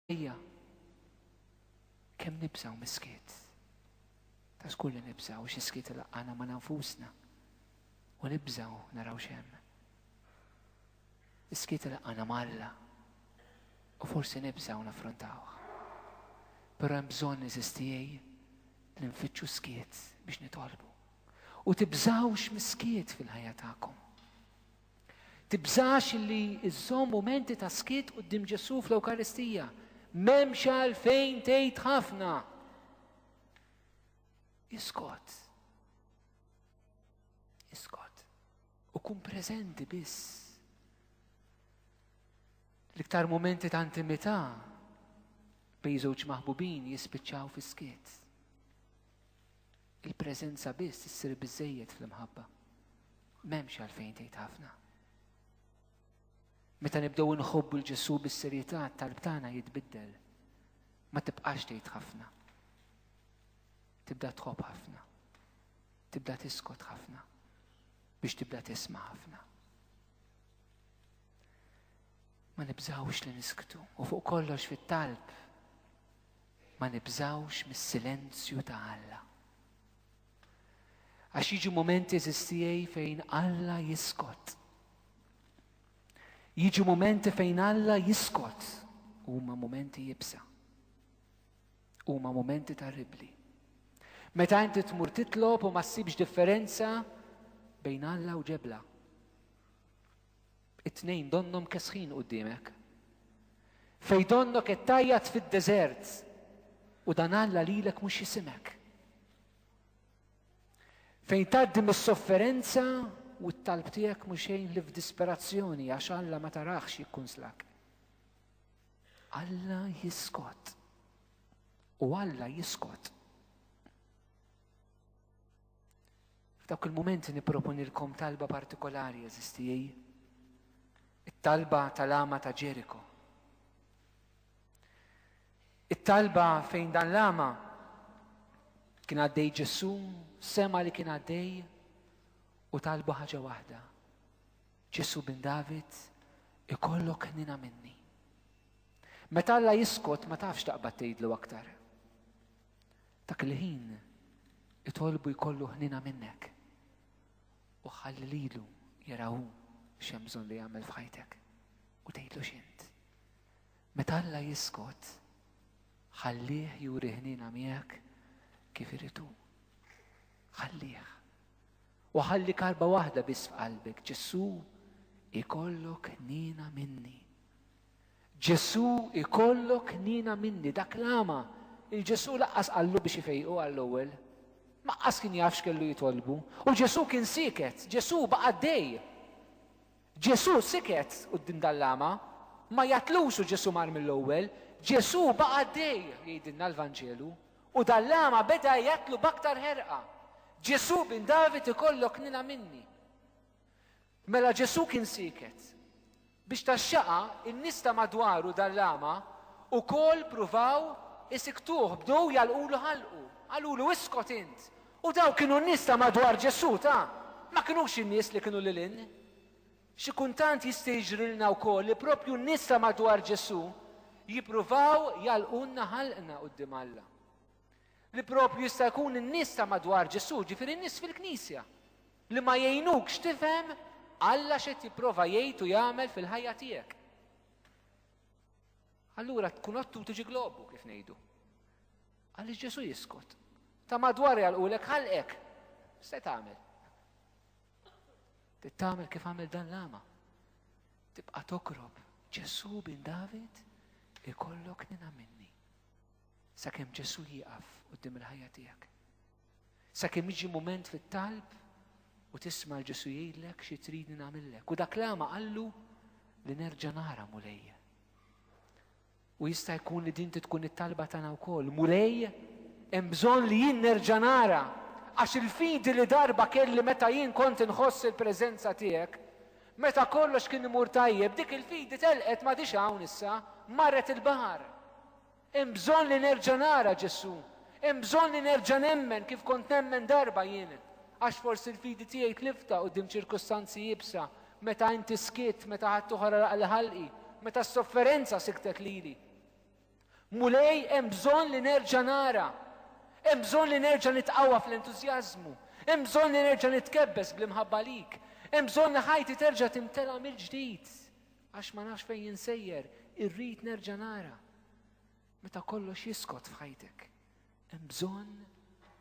Ejja, kemm nibżaw mis-skiet. Ta' skur li nibżaw xi skiet laqqana ma' nanfusna. U nibżaw naraw xem. Is-skiet laqqana ma' Alla. U forsi nibżaw naffrontawh. Però hemm bżonn iżistijej li nfittxu skiet biex nitolbu. U tibżawx mis-skiet fil-ħajja tagħkom. Tibżax li żżomm mumenti ta' skiet quddiem Ġesù fl-Ewkaristija. M'hemmx għalfejn tgħid ħafna. Iskot. Iskot. U kun preżenti biss. L-iktar mumenti ta' intimità bejn żewġ maħbubin jispiċċaw fis-skiet. Il-preżenza biss issir biżżejjed fl-imħabba. M'hemmx għalfejn tgħid ħafna. Meta nibdew inħobbu l-Ġesu bis-serjetà tal tagħna jitbiddel. Ma tibqax tgħid ħafna. Tibda tħobb ħafna. Tibda tiskot ħafna biex tibda tisma' ħafna. Ma nibżawx li nisktu u fuq kollox fit-talb ma nibżgħux mis-silenzju ta' Alla. Għax jiġu momenti eżiż tiegħi fejn Alla jiskot. Jiġu momenti fejn Alla jiskot huma momenti jibsa. Huma momenti terribli. Meta inti tmur titlob u ma ssibx differenza bejn Alla u ġebla. It-tnejn donnhom kesħin quddiemek. Fejn donnok qed tajjat fid-deżert u dan Alla lilek mhux jisimek. Fejn tgħaddi mis-sofferenza u t-talb tiegħek mhux xejn li f'disperazzjoni għax Alla ma tarax jikkunslak. Alla jiskot. U Alla jiskot. F'dawk il-mumenti nipproponilkom talba partikolari, għażiż tiegħi. It-talba tal-għama ta' Ġeriko. It-talba fejn dan l-għama kien għaddej Ġesù, sema li kien għaddej u talbu ħaġa waħda. Ġesù bin David ikollok ħnina minni. Meta Alla jiskot ma tafx taqbad tgħidlu aktar. Dak il-ħin itolbu jkollu ħnina minnek u ħalli lilu jarawu x'hemm bżonn li jagħmel f'ħajtek u tgħidlu x'int. Meta Alla jiskot, ħallih juri ħnina miegħek kif iritu. Ħallih. U ħalli karba waħda biss f'qalbek, Ġesù ikollok ħnina minni. Ġesù jkollok nina minni, dak l-agħma, il-Ġesù laqqas qallu biex ifejqu għall-ewwel. Maqqas kien jaf x'kellu jitolbu. U Ġesù kien sieket, Ġesù baqa' għaddej. Ġesù siket quddiem dan l-agħma, ma jgħatlux u Ġesù mar mill-ewwel, Ġesù baqa' għaddej, jgħidilna l-Vanġelu, u dan l-agħma beda jgħatlu b'aktar ħerqa. Ġesù bin David ikollok nina minni. Mela Ġesù kien sieket. Biex tax-xaqa, in-nies ta' madwaru dan l-agħma wkoll pruvaw isiktuh, bdew jagħlqulu ħalqu, qalulu, Iskot int! U dawk kienu n-nies ta' madwar Ġesù, ta', ma kinux in-nies li kienu lil hinn. Xi kuntant jista' jiġrilna wkoll li proprju n-nies ta' madwar Ġesù jippruvaw jagħlqulna ħalqna quddiem Alla. Li proprju jista' jkun in-nies ta' madwar Ġesù, ġifieri n-nies fil-Knisja, li ma jgħinukx tifhem Alla x'qed jipprova jgħid u jagħmel fil-ħajja tiegħek. Allura tkun ottu tiġi globu kif ngħidu. Għaliex Ġesu jiskot. Ta' madwar jgħalqulek ħalqek. Se tagħmel. Tittamel kif għamel dan l-ama. Tibqa' tokrob Ġesu bin David ikollok nina minni. Sakemm Ġesu jieqaf qudiem il-ħajja tiegħek. Sakemm jiġi mument fit-talb u tisma' l-Ġesu jgħidlek xi tridni nagħmillek. U dak l-għama qallu li nerġa' nara mulej. U jista' jkun li din tkun it-talba tagħna wkoll. Mulej, hemm bżonn li jien nerġa' nara għax il-fidi li darba kelli meta jien kont inħoss il-preżenza tiegħek, meta kollox kien imur tajjeb, dik il-fidi telqet ma dix hawn issa, marret il-baħar. Hemm bżonn li nerġa' nara Ġesù. Hemm bżonn li nerġa' nemmen kif kont nemmen darba jien. Għax forsi l-fidi tiegħi tlifta quddiem ċirkustanzi iebsa, meta Inti skitt, meta ħaddieħor għalaq il-ħalqi, meta s-sofferenza siktet lili. Mulej, hemm bżonn li nerġa' nara. Hemm bżonn li nerġa' nitqawwa fl-entużjażmu. Hemm bżonn li nerġa' nitkebbes bl-imħabba lik. Hemm bżonn li ħajti terġa' timtela mill-ġdid. Għax ma nafx fejn insejjer, irrid nerġa' nara. Meta kollox jiskot f'ħajtek, hemm bżonn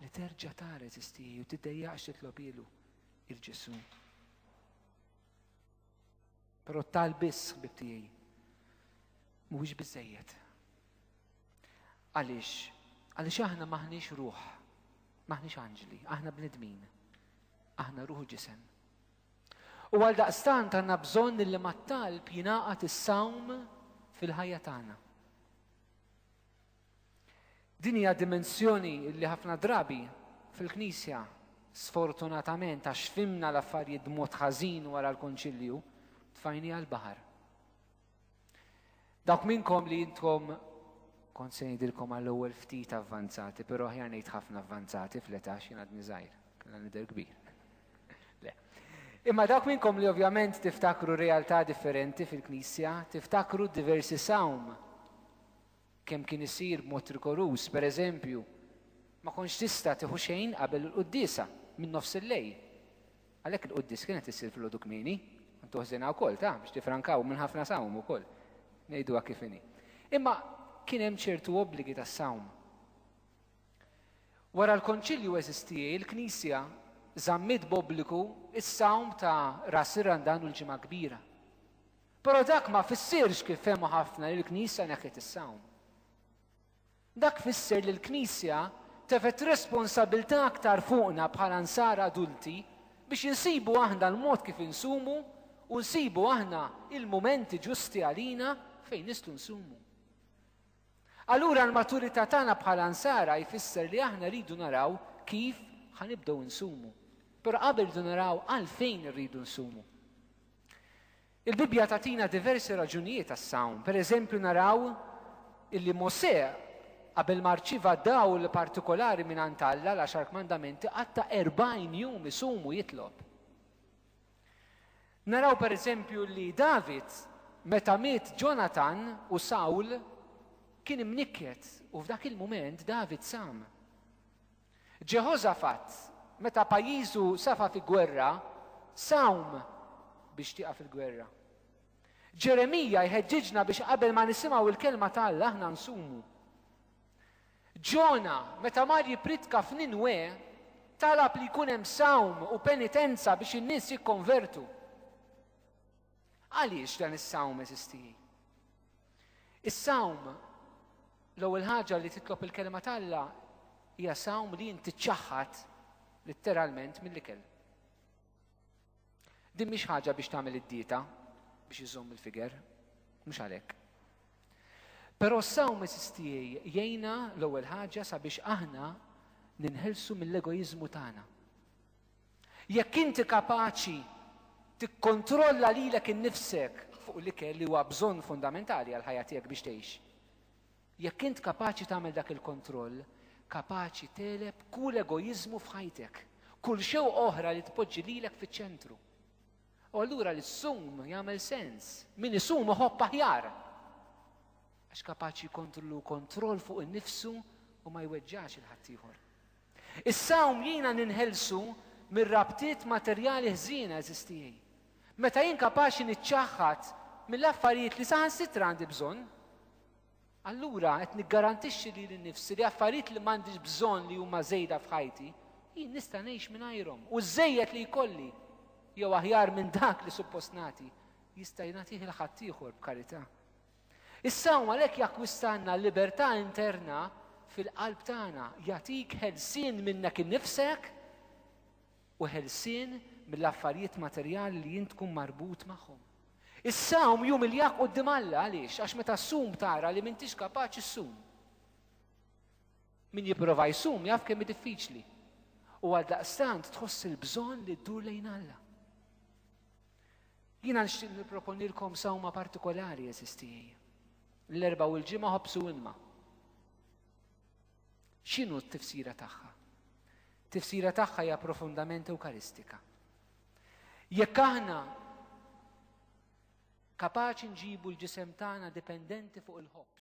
li terġa' tara eżistieħi u tiddejjaqx titlob ilu il-Ġesu. Però tal biss ħbib tiegħi mhuwiex biżejjed. Għaliex? Għaliex aħna maħniex ruħ, maħniex anġli, aħna bnedmin, aħna ruħu ġisem. U għaldaqstant għandna bżonn li mat-talb jingħaqad is-sawm fil-ħajja tagħna. Din hija dimensjoni li ħafna drabi fil-Knisja sfortunatament għax fimna l-affarijiet b'mod ħażin wara l-Konċilju tfajni għall-baħar. Dawk minnkom li intkom kont se ngħidilkom għall-ewwel ftit avvanzati, però aħjar ngħid ħafna avvanzati fl-età x'jien għadni żgħir, kellha nidher kbir. Le. Imma dawk minnkom li ovvjament tiftakru realtà differenti fil-Knisja, tiftakru diversi sawm Kemm kien isir b'mod rigoruż, per eżempju, ma kontx tista' tieħu xejn qabel il-quddiesa, minn nofs il-lejl. Għalhekk il-quddies kienet issir filgħodu kmieni, kont toħżenha wkoll, ta, biex tiffrankaw minn ħafna sawm ukoll. Ngħiduha kif inhi. Imma kien hemm ċertu obbligi tas-sawm. Wara l-Konċilju eżistiej, il-Knisja żammiet b'obbligu s-sawm ta' Ras ir-Randan u l-Ġimgħa Kbira. Però dak ma fissirx kif fehmu ħafna li l-Knisja neħħiet is-sawm. Dak fisser li l-Knisja tefgħet responsabbiltà aktar fuqna bħala nsara adulti biex insibu aħna l-mod kif insumu u nsibu aħna l-mumenti ġusti għalina fejn nistgħu nsumu. Allura l-maturità tagħna bħala Nsara jfisser li aħna rridu naraw kif ħa nibdew insumu. Però qabel rridu naraw għalfejn irridu nsumu. Il-Bibbja tagħtina diversi raġunijiet għas-sawm. Pereżempju naraw illi Mosè qabel ma rċiva dawl partikolari mingħand Alla l-għaxar kmandamenti qatta' 40 jum isumu jitlob. Naraw pereżempju li David, meta miet Ġonatan u Sawl, kien imnikket u f'dak il-mument David sam. Ġeħożafat, meta pajjiżu safa fi gwerra, sawm biex tieqaf il-gwerra. Ġeremija jħeġġiġna biex qabel ma nisimgħu l-kelma ta' Alla aħna nsumu. Ġona, meta mar jippritka f'Ninwè, talab li jkun hemm sawm u penitenza biex in-nies jikkonvertu. Għaliex dan is-sawm eżisti? Is-sawm l-ewwel ħaġa li titlob il-kelma t'Alla hija sawm li inti ċaħħad litteralment mill-ikel. Din mhix ħaġa biex tagħmel id-dieta biex iżomm il-figer, mhux għalhekk. Però s-sawm tiegħi jgħinna l-ewwel ħaġa sabiex aħna ninħelsu mill-egoiżmu tagħna. Jekk inti kapaċi tikkontrolla lilek innifsek fuq l-ikel li huwa bżonn fundamentali għal ħajja tiegħek biex tgħix. Jekk int kapaċi tagħmel dak il-kontroll, kapaċi tegħleb kull egoiżmu f'ħajtek, kull xewqa oħra li tpoġġi lilek fiċ-ċentru. U allura li ssum jagħmel sens, min isum iħobb aħjar. Għax kapaċi jkontru kontroll fuq innifsu u ma jweġġax il-ħaddieħor. Is-sawm jiena ninħelsu mir-rabtiet materjali ħżiena eżistijaj. Meta jien kapaċi niċċaħħad mill-affarijiet li saħansitra għandi bżonn, Allura qed niggarantixxi lili nnifsi li affarijiet li m'għandix bżonn li huma żejda f'ħajti, jien nista' ngħix mingħajrhom. U ż-żejjed li jkolli, jew aħjar minn dak li suppost nagħti, jista' jingħatih il ħaddieħor b'karità. Is-sawm għalhekk jakkwistalna l-libertà interna fil-qalb tagħna, jagħtik ħelsien minnek innifsek u ħelsien mill-affarijiet materjali li int tkun marbut magħhom. Is-sawm jumiljak quddiem Alla għaliex? Għax meta ssum tara li m'intix kapaċi ssum. Min jipprova jsum jaf kemm diffiċli. U għal daqstant tħoss il-bżonn li ddur lejn Alla. Jiena nixtieq nipproponilkom sawma partikolari eżistijie. L-erba' u l-ġimgħa ħobsu imma. X'inhu t-tifsira tagħha? Tifsira tagħha hija profondament ewkaristika. Jekk aħna kapaċi nġibu l-ġisem tagħna dipendenti fuq il-ħobb.